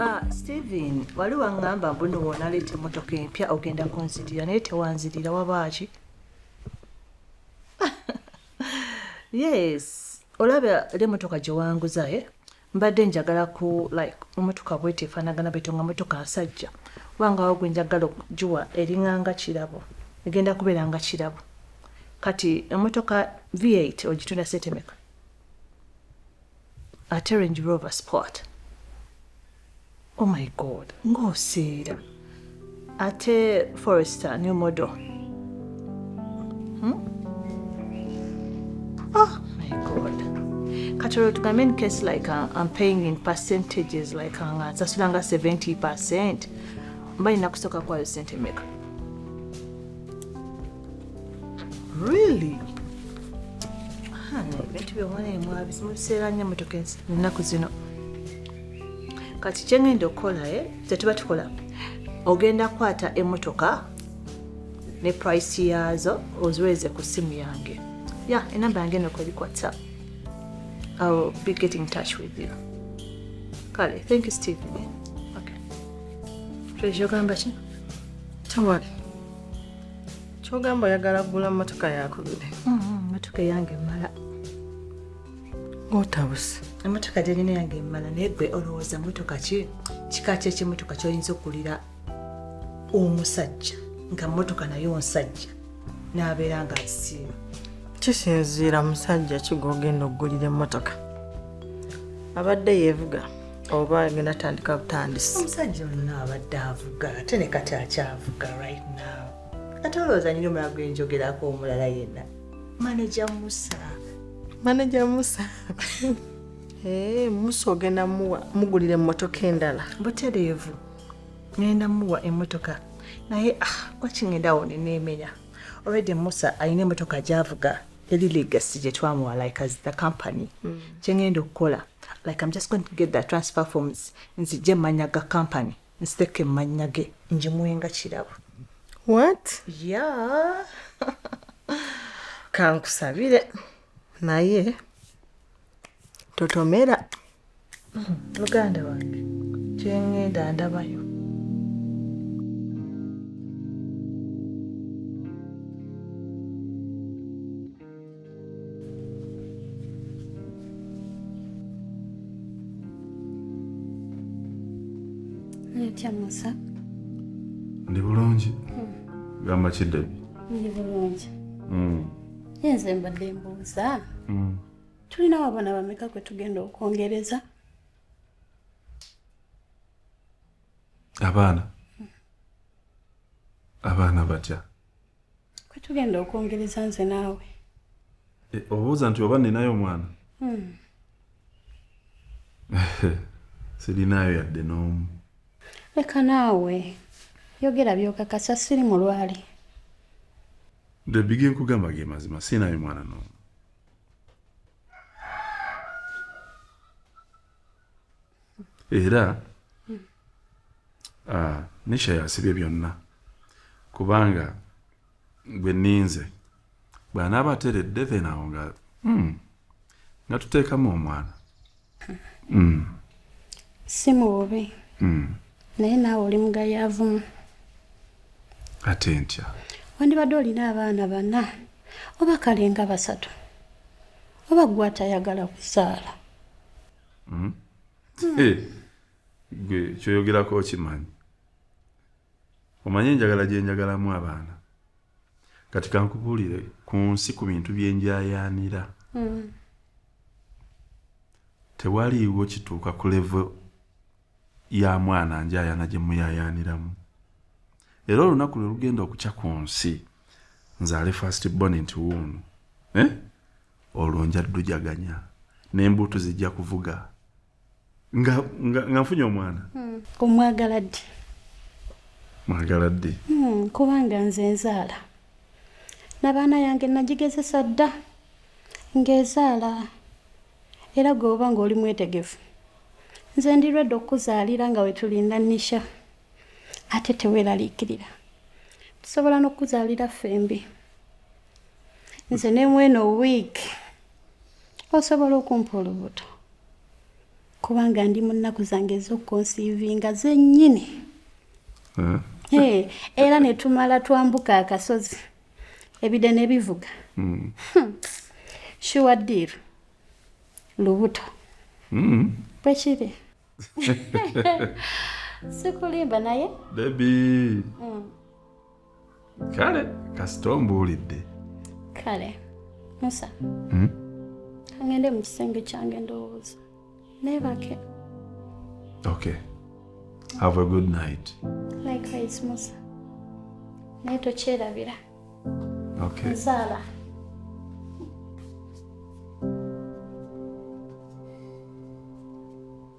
Ah, Steven, wali wangamba mbuno wonaleeta emmotoka empya ogenda kunzirira naye tewanzirira wabaaki? yes, olaba era emmotoka gye wanguza e eh? mbadde njagala ku like emmotoka bwete efaanagana bwete nga mmotoka nsajja wangawo gwe njagala okugiwa eringanga kirabo egenda kubeera nga kirabo kati emmotoka v8 ogitunda sente meka? ate range rover sport oh my god ng'osiira ate forester new model hmm? oh my god kati olwo tugambe in case like uh, i'm paying in percentages like uh, nga nsasulanga 70 percent mba nina kusooka kwayo sente meka Really? ebintu byewala emwabi zimubiseera nnyo emotoka ennaku zino kati kyengenda okukola e eh, tetuba tukola ogenda kukwata emotoka ne price yaazo oziweereze ku ssimu yange ya enamba yange eno kweri whatsapp iwill be getting touch with you kale thank you stephen eh? okay. ogamba ki tewali kyogamba oyagala kugula motoka yakubire mm-hmm, motoka eyange emala otabuse emotoka gyerina yange emala naye gwe olowooza motoka ki kika kyekyemotoka kyoyinza okugulira omusajja nga motoka naye onsajja n'abeera nga asiima kisinziira musajja kigogenda okugulira emotoka abadde yevuga oba ngenda tandika butandisi omusajja olina abadde avuga ate ne kati akyavuga right now ate olowooza nyina omulala gwenjogerako omulala yenna maneja musa maneja musa eh, musa ogenda muwa mugulira emmotoka endala butereevu ngenda muwa emmotoka naye ah, wakingenda wo neneemenya olwedde musa alina emmotoka gyavuga eri legacy gye twamuwa like as the company mm. kye ngenda okukola like am just going to get the transfer forms nzije manya ga company nsiteke manya ge njimuwenga kirabo what yeah kankusabire naye totomera muganda wange kyengenda ndabayo otya musa ndi bulungi hmm. gamba kiddebi ndi bulungi hmm. nze mbadde mbuuza mm. tulina wabona bameka kwe tugenda okwongereza abaana abaana batya kwe tugenda okwongereza nze naawe e, obuuza nti oba ninayo omwana hmm. sirinayo yadde n'omu leka naawe yogera byokakasa siri mulwale The big nkugamba ge mazima sinayo mwana no. Era uh, Nisha yasibye byonna kubanga gwe ninze bwanaaba ateredde then awo nga mm, nga tuteekamu omwana mm. si mububi mm. naye naawe oli mugayaavumu ate ntya wandibadde olina abaana bana oba kalenga basatu oba gwe atayagala kuzaala mm. mm. hey, eh, gwe kyoyogerako okimanyi omanye enjagala gyenjagalamu abaana kati kankubuulire ku nsi ku bintu byenjayaanira mm. Tewaliiwo kituuka ku levo ya mwana njayana gye muyayaaniramu. Era olunaku lwe lugenda okukya ku nsi nzaale first born nti wuuno eh? olwo nja ddujaganya n'embuutu zijja kuvuga. nga nga nga nfunye omwana hmm. omwagala ddi mwagala ddi hmm, kubanga nze nzaala nabaana yange nagigezesa dda ng'ezaala era gweoba ng'oli mwetegefu nze ndirwedde okukuzaalira nga wetulinda nisha ate teweeraliikirira tusobola n'okukuzaalira ffembi nze nemweno wiiki osobola okumpa olubuto kubanga ndi mu nnaku zange ez'okukonsiivinga zennyini hmm. eh, era ne tumala twambuka akasozi ebide ne bivuga hmm. hmm. shuwa diiru lubuto bwe kiri sikulimba naye bebi kale kasita ombuulidde kale musa hmm? angende mu kisenge kyange ndowooza nebake okay have a good night likewise musa naye tokyerabira okay nzaala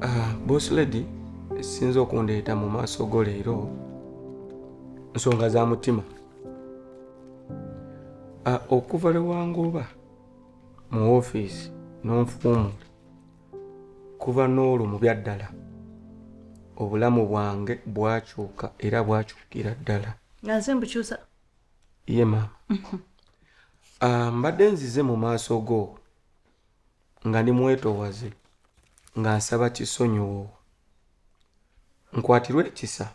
Ah, boss lady sinza okundeeta mu maaso go leero nsonga za mutima ah, okuva lwewangooba mu ofiisi n'onfuumula kuva n'olwo mu byaddala obulamu bwange bwakyuka era bwakyukira ddala nga nze mbukyusa ye maama ah, mbadde nzize mu maaso go nga ndi mwetowaze nga nsaba kisonyiwo nkwatirwe ekisa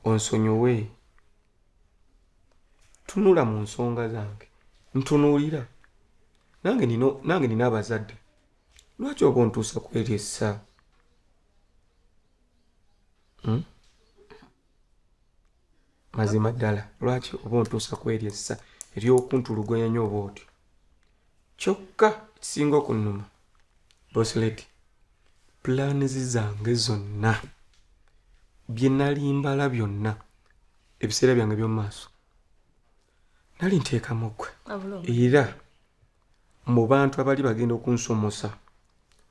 onsonyiwe tunula mu nsonga zange ntunuulira nange nina abazadde lwaki oba ontuusa kweryessa hmm? mazima ddala lwaki oba ontuusa ku eryo essa ery'okuntulugoya nyo oba otyo kyokka ekisinga okunnuma bosileti pulaanizi zange zonna bye nali mbala byonna ebiseera byange by'omu maaso nali nteekamu gwe era mu bantu abali bagenda okunsomosa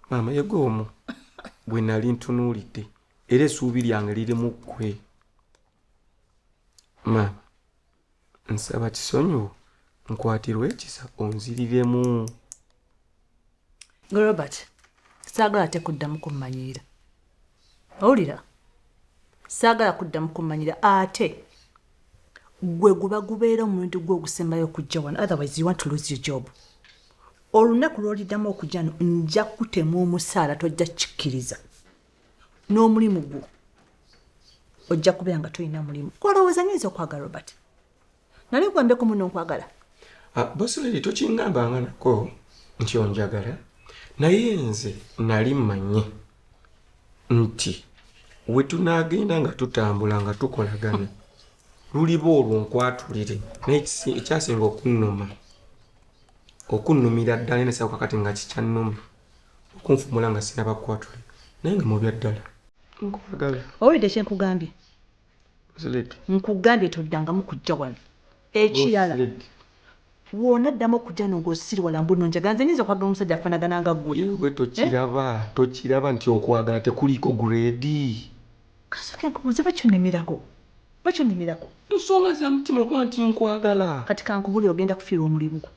maama yegwe omu gwe nali ntunuulidde era essuubi lyange liri mu ggwe maama nsaba kisonyiwo nkwatirwe ekisa onziriremu gwe robert saagala ate kuddamu kummanyirira owulira saagala kuddamu kummanyira ate gwe guba gubeera omulundi gwe ogusembayo okujja wano otherwise you want to lose your job olunaku lwoliddamu okujja no nja kutema omusaala tojja kikkiriza n'omulimu gwo ojja kubeera nga tolina mulimu kwalowooza nyo nza okwagala robert nali nkwambeko muno nkwagala ah, bosiledi tokingambanga nako nti onjagala naye nze nali mmanyi nti we tunaagenda nga tutambula nga tukolagana luliba olwo nkwatulire naye ekyasinga okunnuma okunnumira ddala enesako kakati nga kikyannuma okunfumula nga sinaba kwatule naye nga mubya ddala nkwagala owulidde kyenkugambye nkugambye toddangamu kujja wano ekirala wona ddamu okujja no ng'osiriwala mbu no njaga nze nyinza okwagala omusajja afanagana nga gwe ewe tokiraba eh? tokiraba nti okwagala tekuliiko gureedi kasooke nkubuuze bakyunimirako bakyunimirako nsonga za mutima okuba nti nkwagala kati kankubuli ogenda kufiirwa omulimu gwo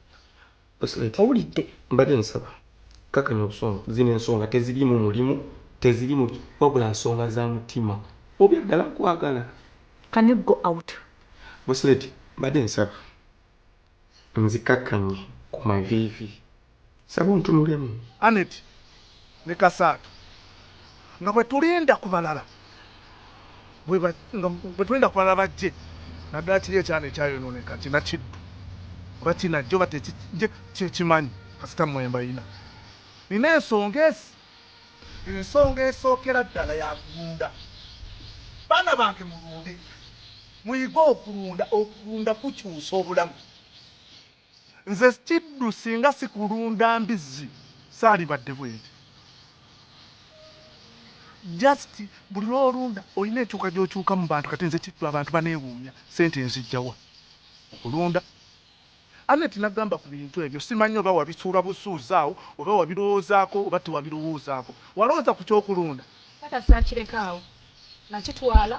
Owulidde mbade nsaba kakanya obusungu zino ensonga tezilimu mulimu tezilimu wabula nsonga za mutima oba edala nkwagala. Can you go out. Boss lady mbade nsaba nzikakanye ku mavivi nsaba ontunulemu. Annet ne kasaatu nga bwe tulinda ku balala bajje naddala kiri ekyana ekyayonooneka kina kiddu oba kinajja oba tekijje sikimanyi kasita mmwe mbalina. Nnina ensonga ezi. Ensonga esookera ddala ya kulunda. Baana bange mulunde, muyige okulunda. Okulunda kukyusa obulamu. Nze kiddu singa sikulunda mbizzi salibadde bwenti just buli lwolunda olina enkyuka gyokyuka mubantu kati nze kiddu abantu banewuunya sente nzijjawa okulunda Annet nagamba kubintu ebyo simanyi oba wabisuula busuuzi awo oba wabirowoozako oba tewabirowoozaako walowooza kukyokulunda? Taata sakireka awo nakitwala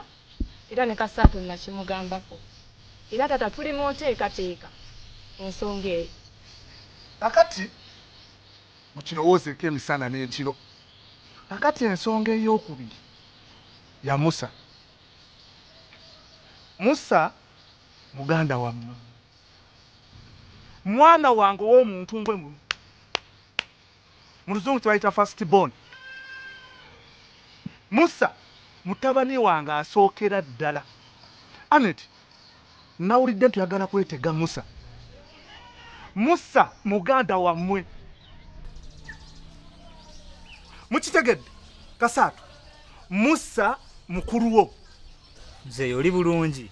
era ne ka Saturn nakimugambako era taata tuli mu nteekateeka ku nsonga eyo. Kakati mukirowoozeeko emisana n'ekiro. Kakati ensonga ey'okubiri ya Musa. Musa muganda wammwe. Mwana wange ow'omu ntumbwe muno. Mu luzungu kye bayita first born. Musa, mutabani wange asookera ddala. Annet, nnawulidde nti oyagala kwetega Musa. Musa, muganda wammwe. Mukitegedde? Kasaatu, Musa mukulu wo. Mzeeyi oli bulungi?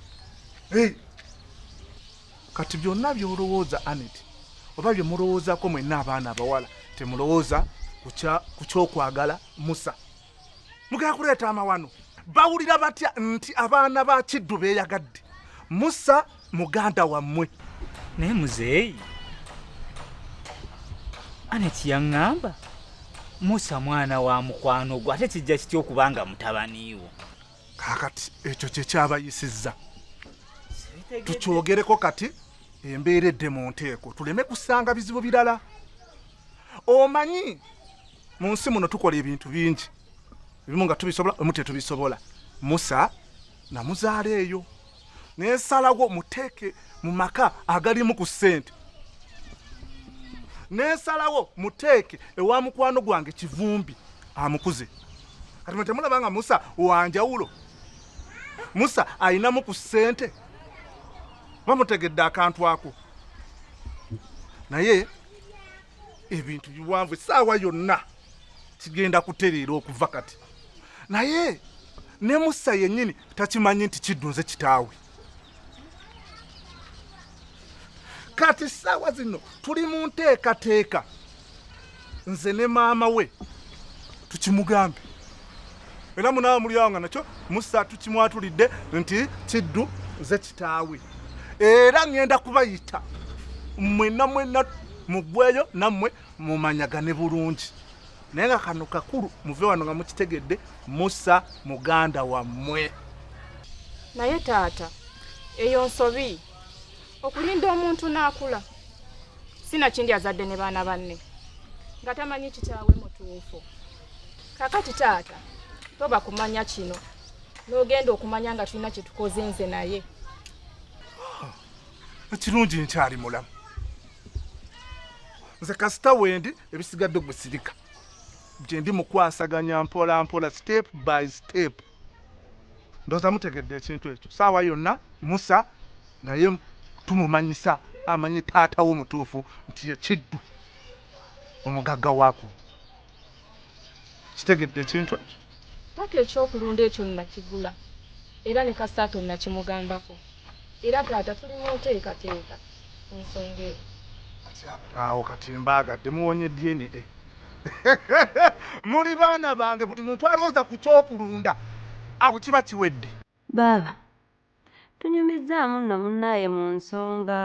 Hey. kati byonna byolowooza anet oba bye mulowoozako mwenna abaana abawala temulowooza ku kyokwagala musa mugenda kuleeta amawano bawulira batya nti abaana ba kiddu beeyagadde musa muganda wammwe naye muzeeyi anet yaŋŋamba musa mwana wa mukwano gwe ate kijja kitya okubanga mutabaniiwo kakati ekyo kyekyabayisizza tukyogereko kati embeera edde mu nteeko tuleme kusanga bizibu birala omanyi mu nsi muno tukola ebintu bingi ebimu nga tubisobola omu tetubisobola musa namuzaala eyo nesalawo muteeke mu maka agalimu ku ssente nesalawo muteeke ewa mukwano gwange kivumbi amukuze kati mwe temulaba nga musa wanjawulo musa alinamu ku ssente bamutegedde akantu ako naye ebintu biwanvu esaawa yonna kigenda kutereera okuva kati naye ne musa yennyini takimanyi nti kiddunze kitaawe kati ssaawa zino tuli mu nteekateeka nze ne maama we tukimugambe era munawe muliawo nga nakyo musa tukimwatulidde nti kiddu ze kitaawe era ŋŋenda kubayita mwenna mwenna mugweyo nammwe mumanyagane bulungi naye nga kano kakulu muve wano nga mukitegedde musa muganda wammwe naye taata eyo nsobi okulinda omuntu n'akula sinakindi azadde ne baana banne nga tamanyi kitaawe mutuufu kakati taata toba kumanya kino n'ogenda okumanya nga tulina kyetukoze nze naye ekirungi nkyali mulamu nze kasita wendi ebisigadde gusirika gyendi mukwasaganya mpola mpola step by step ndoza mutegedde ekintu ekyo saawa yonna musa naye tumumanyisa amanyi taata wo mutuufu nti yekiddu omugagga waku kitegedde ekintu ekyo Ppaka eky'okulunda ekyo nnakigula era ne kasita tonnakimugambako era taata tuli mu nteekateeka ku nsonga eyo. Kati awo kati mbaagadde muwonye DNA. Muli baana bange buli muntu alowooza ku ky'okulunda awo kiba kiwedde. Baaba, tunyumizzaamu nno munnaaye mu nsonga,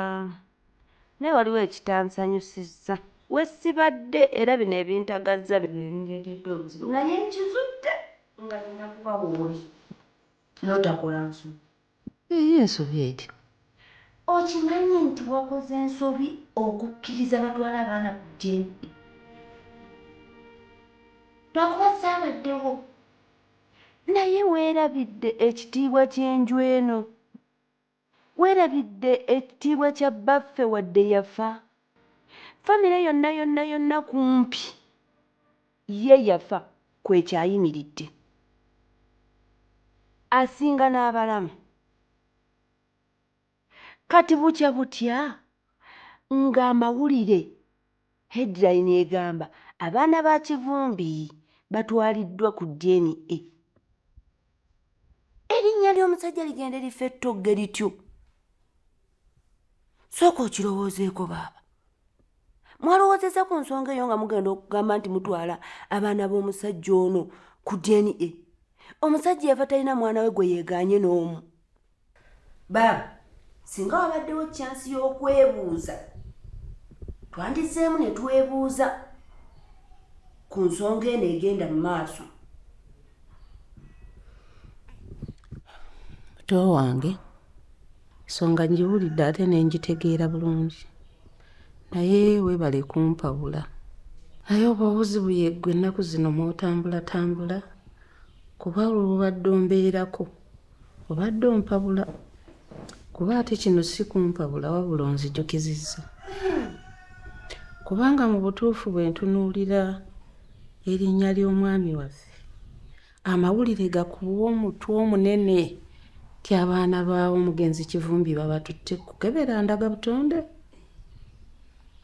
naye waliwo ekitansanyusizza we sibadde era bino ebintagazza bye bindeetedde obuzibu naye nkizudde nga nnina kuba wooli n'otakola nsobi. Eyo ensobi etya? Okimanyi nti wakoze nsobi okukkiriza batwale abaana ku jjembe lwakuba saabaddewo Naye weerabidde ekitiibwa ky'enju eno? Weerabidde ekitiibwa kya bbaffe wadde yafa? Famire yonna yonna yonna kumpi ye yafa kw'ekyayimiridde. Asinga n'abalamu. Kati bukya butya nga amawulire headline egamba abaana ba Kivumbi batwaliddwa ku DNA. Erinnya ly'omusajja ligende lifa ettogge lityo? Sooka okirowoozeeko baaba. Mwalowoozezza ku nsonga eyo nga mugenda okugamba nti mutwala abaana b'omusajja ono ku DNA? Omusajja yafa talina mwana we gwe yeegaanye n'omu. baaba singa wabaddewo kyansi y'okwebuuza twandizeemu ne twebuuza ku nsonga eno egenda mu maaso muto wange nsonga ngiwulidde ate ne ngitegeera bulungi naye weebale kumpawula naye oba obuzibu yeggwe ennaku zino mw'otambulatambula kuba olwo bubadde ombeerako obadde ompabula kuba ate kino si kumpabula wabula onzijukizizza kubanga mu butuufu bwe ntunuulira erinnya ly'omwami waffe amawulire gakuwa omutwe omunene ti abaana baawo omugenzi kivumbi babatutte kukebera ndaga butonde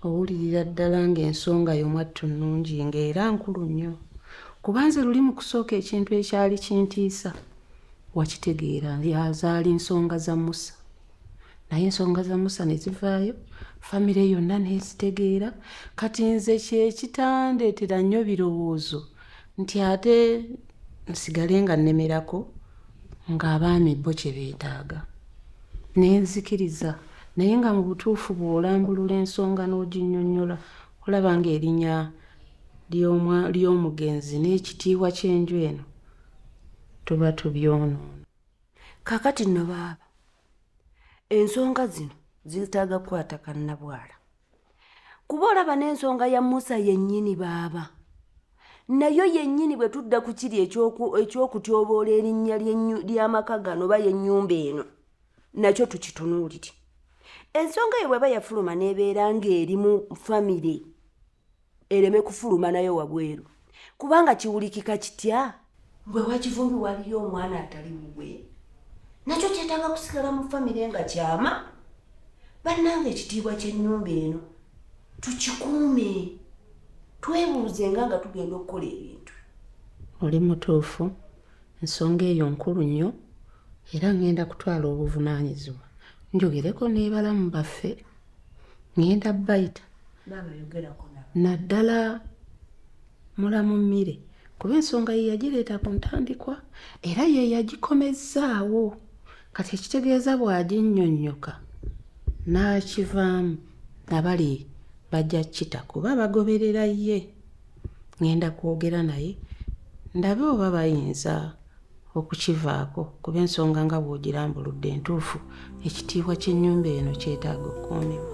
owulirira ddala ng'ensonga yo mwattu nnungi ng'era nkulu nnyo kuba nze luli mu kusooka ekintu ekyali kintiisa wakitegeera zaali nsonga za musa naye ensonga za musa ne zivaayo famire yonna nezitegeera kati nze kyekitandeetera nnyo birowoozo nti ate nsigale nga nnemerako ng'abaami bo kye beetaaga ne nzikiriza naye nga mu butuufu bw'olambulula ensonga n'oginnyonnyola olaba ng'erinya ly'omugenzi n'ekitiibwa ky'enju eno tuba tubyonoona kakati nno baaba ensonga zino zeetaaga kukwata kannabwala kuba olaba n'ensonga ya musa yennyini baaba nayo yennyini bwe tudda ku kiri ekyokutyoboola erinnya ly'amaka gano oba y'ennyumba eno nakyo tukitunuulire ensonga eyo bweba yafuluma n'ebeera ng'eri mu famire ereme kufuluma nayo wabweru kubanga kiwulikika kitya gwe wakivumbi waliyo omwana atali mugwe nakyo kyetaaga kusigala mu famire nga kyama bannanga ekitiibwa kyennyumba eno tukikuume twebuuze nga nga tugenda okukola ebintu oli mutuufu ensonga eyo nkulu nnyo era ngenda kutwala obuvunaanyizibwa njogereko nebalamu baffe ngenda bayita naddala mulamu mmire kuba ensonga ye yagireeta ku ntandikwa era ye yagikomezzaawo kati ekitegeeza bw'aginnyonnyoka n'akivaamu nabali bajja kita kuba bagoberera ye ŋŋenda kwogera naye ndabe oba bayinza okukivaako kuba ensonga nga bw'ogirambuludde entuufu ekitiibwa ky'ennyumba eno kyetaaga okukuumibwa